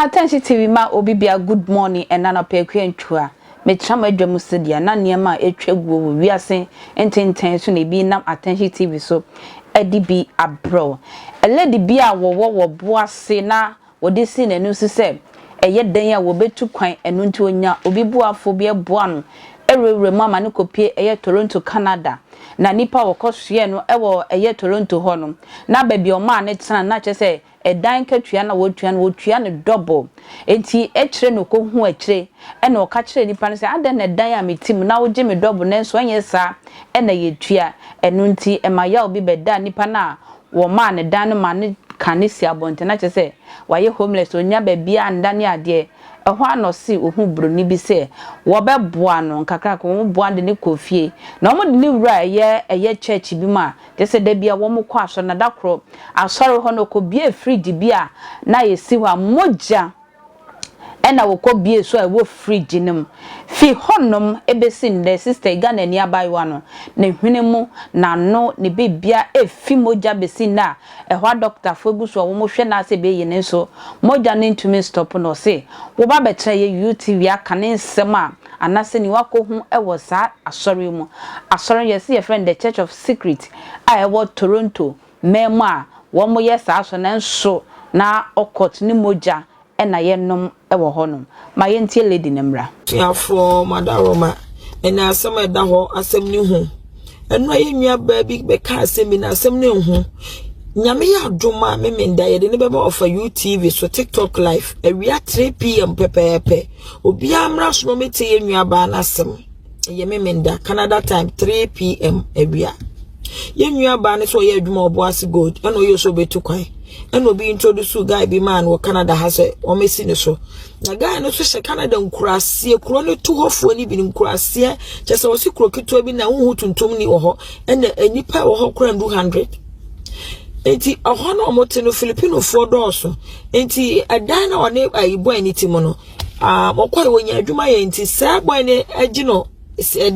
Atɛnhye TV ma obi bia good morning ɛna nɔpɛ akua ntwua metra mo adwa mu sɛdeɛ na nneɛma a ɛtwa guo wɔ wiase ntentɛn so na ebi nam atɛnhye TV so ɛde bi abrɛw ɛlɛde bi a wɔwɔ wɔ boase na Wɔde sii n'ani so sɛ ɛyɛ dɛn a wɔbetu kwan, ɛno nti onya obi boafo bi boa no wurawura mu ama no kopue ɛyɛ Toronto, Canada. Na nnipa a wɔkɔsoɛɛ no wɔ ɛyɛ Toronto hɔ no, na baabi a wɔmaa no tena no, na kyerɛ sɛ ɛdan katua no a wɔtua no, wɔtua no double. Enti akyire no ɔkɔhuu akyire na ɔka kyerɛɛ nnipa no sɛ, Adɛn na ɛdan a mete mu na wogye me double nanso ɛnyɛ saa na yɛtua? Ɛno nti ɛma yaw bi bɛdaa nnipa no a Wɔmaa no dan no ma no ka no si abɔnten na kyerɛ sɛ wayɛ homeless, ɔnnya baabiara nda ne adeɛ. Ɛhɔ ara na ɔse ɔhuu buroni bi sɛ wɔbɛboa no nkakrankakra, wɔboa no de no kɔɔ fie. Na wɔde no wuraa ɛyɛ ɛyɛ church bi mu a kyerɛ sɛ da biara wɔkɔ asɔre na da koro asɔre hɔ no ɔkɔbuee fridge bi a na ɛsi hɔ a mogya ɛna wɔkɔ bue so a ɛwɔ fridge no mu. Fi hɔnom bɛsi nnɛ sister yi Ghanani abaayewa no ne hwene mu, n'ano, ne biribiara ɛrefi mogya bɛsi nnɛ a ɛhɔ a dɔkotafo gu so a wɔhwɛ no ara sɛ ɛbɛyi no nso mogya no ntumi nstop no. Ɔse wɔba abɛtena yɛ UTV aka ne nsɛm a anaasɛ nea wakɔhu wɔ saa asɔre yi mu. Asɔre no yɛse yɛfrɛ no The Church of Secret a ɛwɔ Toronto. mmaa mu a wɔyɛ saa so nanso na ɔkɔt ne mogya na yɛnom wɔ hɔnom. Ma yɛntie Lady no mmra. Asuafoɔ, m'adaworoma ne asɛm a ɛda hɔ, asɛm no hu. Ɛnora yɛn nuabaa bi bɛka asɛm bi na asɛm no nhu. Nyame yɛ adom a Memenda yɛde no bɛba ɔfa UTV so TikTok live awia 3 pm pɛpɛɛpɛ. Obiara mmra so na ɔmɛtie yɛn nuabaa no asɛm. ɛyɛ memenda canada time 3 pm awia yɛn nua baa no so ɔyɛ adwuma ɔbɔ ase gold ɛna ɔyɛ so ɔbɛtu kwan ɛna obi introduce guy bi maa no wɔ canada ha sɛ wɔmɛsi ne so na guy no so hyɛ canada nkuraseɛ kuro no to hɔfoɔ no bi no nkuraseɛ kyɛ sɛ ɔsi kuro ketewa bi na wohu tuntum ni wɔ hɔ ɛna nnipa wɔ hɔ kora ndu hundred nti ɛhɔ no wɔte no filipinofoɔ dɔɔso nti ɛdan na ɔne ayi bɔn ne ti mu no Ah, wɔkɔe wɔnya adwuma yɛ nti sɛ boy no agye no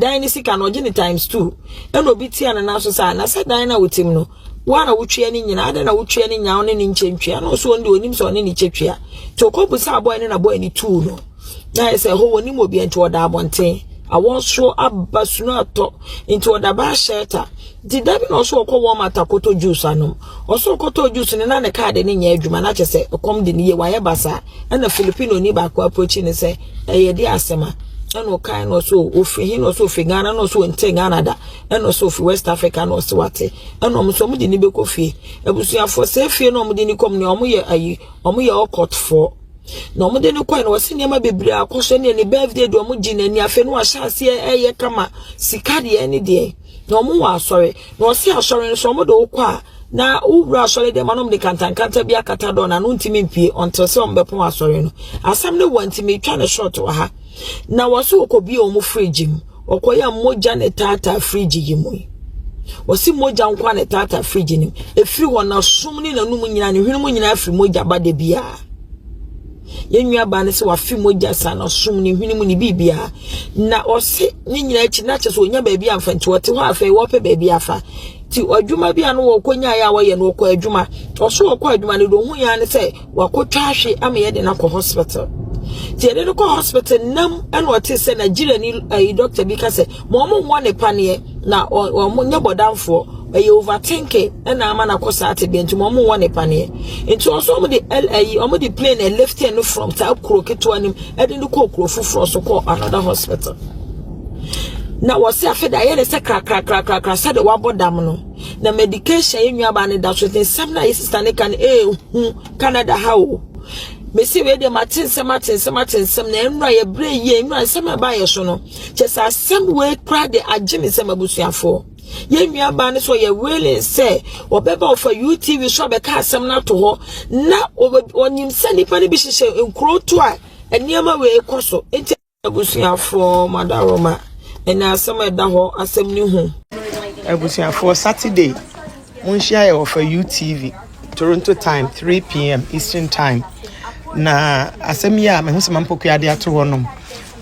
dan ne sika no ɔgye ne times two ɛna obi tia ne nan so saa na sɛ dan no a wotim no woa na wotwea ne nyina adɛn na wotwea ne nyaw ne ne nkyɛ ntwea na ɔso ɔno deɛ ɔnim sɛ ɔne ne kyɛ twea nti ɔkɔbu saa boy no na boy no tuu no na ayɛ sɛ hɔ wɔnim obi nti ɔda abɔnten awɔ nso aba sunu atɔ nti ɔda baa shelter nti da bi na ɔso ɔkɔ wɔn mata kɔtɔ juice anom ɔso ɔkɔtɔ juice no na ne kaade ne nyɛ adwuma na kyɛ sɛ ɛkɔm de ne yie wayɛ basaa ɛna filipino ni baako approach ne sɛ ɛyɛ de asɛm a ɛna ɔkae na ɔso ofiri he na ɔso ofiri ghana na ɔso nte ghana da ɛna ɔso ofiri west africa na ɔso wate ɛna ɔmo so ɔmo de ni bɛkɔ fie abusuafoɔ sɛ fie na ɔmo de ni kɔm ne ɔmo yɛ ayi ɔmo yɛ ɔkɔtfoɔ na ɔmo de ne kɔe na ɔsi nneɛma bebree akɔhyɛ ne ne birthday de ɔmo gyi n'ani afei no ahyɛ aseɛ ɛyɛ kama sika deɛ ne deɛ na ɔmo wɔ asɔre na ɔsi asɔre nso ɔmo de wokɔ a Na wowura asɔre dɛm ma no de kantankanta bi akata dɔn na no ntimi mpie until sɛ ɔmbɛpɔn asɔre no asɛm ne wa nti metwa ne short wɔ ha na wɔse wɔkɔbie wɔn fridge mu wɔkɔyɛ mogya ne taataa fridge yi mu yi wɔse mogya nko a ne taataa fridge no mu ɛfiri hɔ na som ne nanum nyina ne hwenem nyina afiri mogya ba da bi a yɛn nua baa no sɛ wafe mogya saa na som ne hwenem ne biribi a na ɔse ne nyina akyi na kyɛ sɛ ɔnya baabi amfa nti wɔte hɔ afei wɔpɛ baabi afa ti adwuma bi a no wɔkɔ nyaeɛ a wɔyɛ no wɔkɔ adwuma ɔso wɔkɔ adwuma no deɛ ɔhu yɛn ne sɛ wakɔtwa ahwe ama yɛde no akɔ hospital nti yɛde no kɔ hospital nam ɛna ɔte sɛ nigeria ni ɛyi eh, doctor bi ka sɛ ma ɔmo nwɔ ne paneɛ na ɔmo nyɛ bɔdanfoɔ ɛyɛ overthinking ɛna ama no akɔ saa te bɛn nti ma ɔmo nwɔ ne paneɛ nti ɔso ɔmo de ɛyi ɔmo de plane ɛlifte no from saa kuro ketewa nim ɛde no kɔ kuro foforɔ so kɔ another hospital. na wɔsi afei de ayɛ ne sɛ krakrakrakrakra sɛdeɛ wabɔ dam no na medication yɛ nuabaa no da so ne nsɛm no a yɛ sista no ka no ɛɛhu canada ha o mesi wei deɛ mate nsɛm ate nsɛm ate nsɛm na nnura yɛbrɛ yie nnura nsɛm a ɛbaayɛ so no kyɛ sɛ asɛm wei kora de agye me nsɛm abusuafoɔ yɛn nuabaa no so yɛ willing sɛ ɔbɛba ɔfa utv so abɛka asɛm no ato hɔ na ɔnyim sɛ nipa no bi hyehyɛ nkuro to a nneɛma wei kɔ so nti Abusuafoɔ, Madaroma, ɛne asɛm a ɛda hɔ asɛm no hu. Abusuafoɔ, Saturday, monhyia yɛ wɔ fa UTV, Toronto time, 3 pm Eastern time. Na asɛm yi a mehu sɛ Mampokuade ato hɔ nom,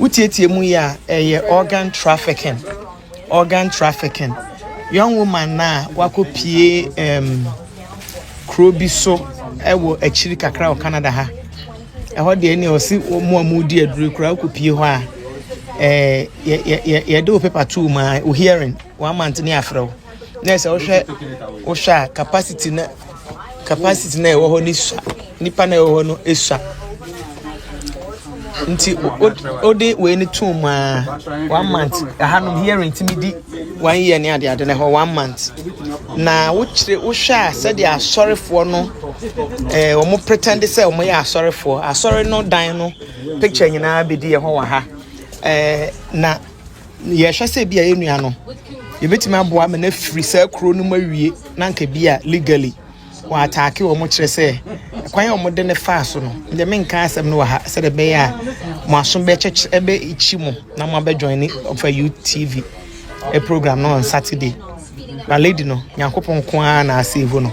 wotietie mu yi a, ɛyɛ organ trafficking. Organ trafficking, young woman no a wakɔpue um, kuro bi so wɔ akyiri kakra wɔ Canada ha. Ɛhɔ deɛ ne ɔse wɔn a wɔdi aduro koraa wokɔpue hɔ a eh, yɛde wo paper too mu a wo hearing one month ne afrɛ wo na ɛsɛ wohwɛ wohwɛ a capacity na capacity no a ɛwɔ hɔ no sua nipa no a ɛwɔ hɔ no sua nti wode wei no to mu a one month ɛha no hearing tumi di one year ne adeade no ɛhɔ one month na wokyerɛ wohwɛ a sɛdeɛ asɔrefoɔ no ɛɛ wɔn pretend sɛ wɔn yɛ asɔrefoɔ asɔre no dan no picture nyinaa bɛdi ɛhɔ wɔ ha ɛɛ na. yɛhwɛ sɛ bi a yɛn nua no yɛbɛtumi aboa ma no afiri saa kuro no mu awie na nka bi a legally wɔn ataake wɔn kyerɛ sɛ kwan a wɔde ne faa so no deɛ menka asɛm no wɔ ha sɛ deɛ bɛyɛ a mo aso bɛkyɛkyɛ ɛbɛkyi mo na mo abɛjoin ne ɔfa utv program no on saturday na lady no nyankopɔn nko ara na ase ehu no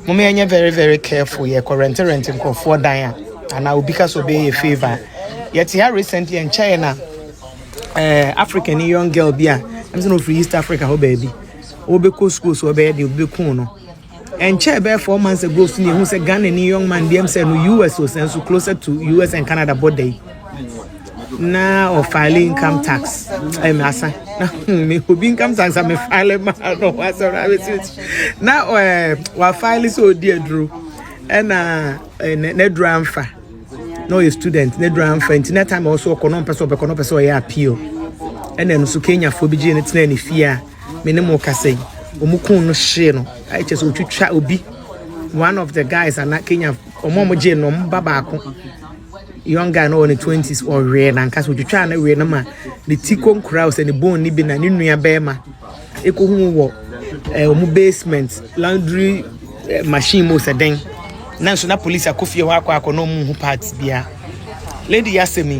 mo mɛ nyɛ very very careful yɛ kɔ rente rente nkurɔfoɔ dan a anaa obi ka sɛ ɔbɛyɛ yɛ favour yɛte ha recently nkyɛn na eh, africa ni young girl bi a ɛm sɛ na ɔfiri east africa hɔ baabi wɔbɛkɔ school so ɔbɛyɛ deɛ ɔbɛku no ɛnkyɛ ɛbɛyɛ four months ago so ne ɛhu sɛ ghana ni young man bi ɛm sɛ no us o sɛ nso closer to us and canada border yi na ɔfile income tax ɛm asa na hmm, me obi income tax a mefile ma no wasɔrɔ abɛsirikyi na eh, wafile sɛ ɔdi aduro ɛna eh, n'aduro amfa na ɔyɛ student na aduru amfa nti na time a ɔso ɔkɔ na ɔmpɛ sɛ ɔbɛkɔ na ɔpɛ sɛ ɔyɛ appeal ɛna ɛno so kenyafoɔ bi gyee no tenaa ne fie a me ne mo kasa yi wɔn kun no hyee no ayɛ kyɛ sɛ ɔtwitwa obi one of the guys ana kenya wɔn a wɔgyee no wɔn ba baako young guy na ɔwɔ ne twenties ɔwee nankasa ɔtwitwa ne wee no ma ne ti kɔnkura sɛ ne bone ne bi na ne nua bɛrima ekohu mu wɔ ɛɛ wɔn basement laundry eh, machine mu sɛ dɛn nanso na polisi akɔ fie hɔ akɔ akɔ na wɔn ho parts bia lady yi asɛm yi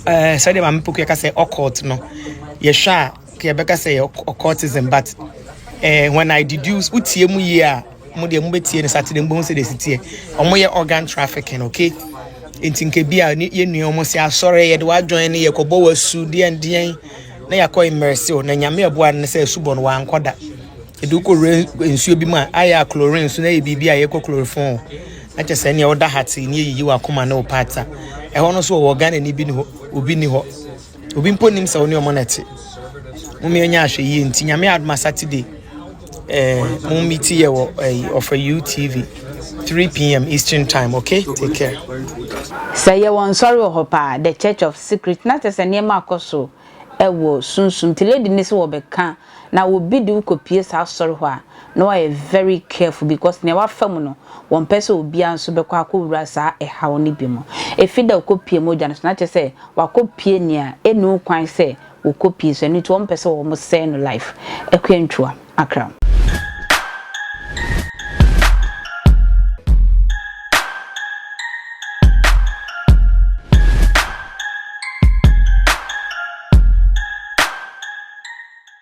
ɛɛ eh, sɛdeɛ maame poku yɛka sɛ ɔkɔɔt no yɛhwɛ a kɛ yɛbɛka sɛ ɔkɔɔtism but ɛɛ eh, when i deduce wotie mu yie a. Mo deɛ mo bɛ tie no Saturday mo bɛ ho sɛ de si teɛ. Wɔn yɛ organ trafficking okay. Nti nka bi a yɛ nua wɔn sɛ asɔre yɛ de wa join no yɛ kɔ bɔ wa su deɛn deɛn na yɛ akɔ immerse o na nyame ɛboa no sɛ su bɔ no wa nkɔ da. Yɛ de wokɔ wura nsuo bi mu a ayɛ a chlorine so na yɛ biribi a yɛ kɔ chloroform o. Na kyɛ sɛ nea ɔda ha te ne yɛ yiyi wa koma ne o paata. Ɛhɔ no so wɔ Ghana ni bi ni hɔ obi ni hɔ. obi mpo nim sɛ wo ne ɔmo na ɛte mom yɛnyɛ ahwɛyie nti nyame adoma saturday eh, mom meti yɛ wɔ eh, ɔfa utv 3pm eastern time okay take care sɛ yɛwɔ nsɔre wɔ hɔ paa the church of secret na kyɛ sɛ nneɛma akɔ so ɛwɔ sunsum nti lady ne sɛ wɔbɛka Na obi de wo kɔpue saa asɔre hɔ a, na wayɛ very careful because nea wafa mu no, wɔmpɛ sɛ obiara nso bɛkɔ akɔwura saa ɛhaw no bi mu. Ɛfiri da a ɔkɔpue mogya no so no, na kyerɛ sɛ wakɔpue nea ɛnni ho kwan sɛ wɔkɔpue, so ɛno nti wɔmpɛ sɛ wɔsɛe no life. Akua Ntua, Accra.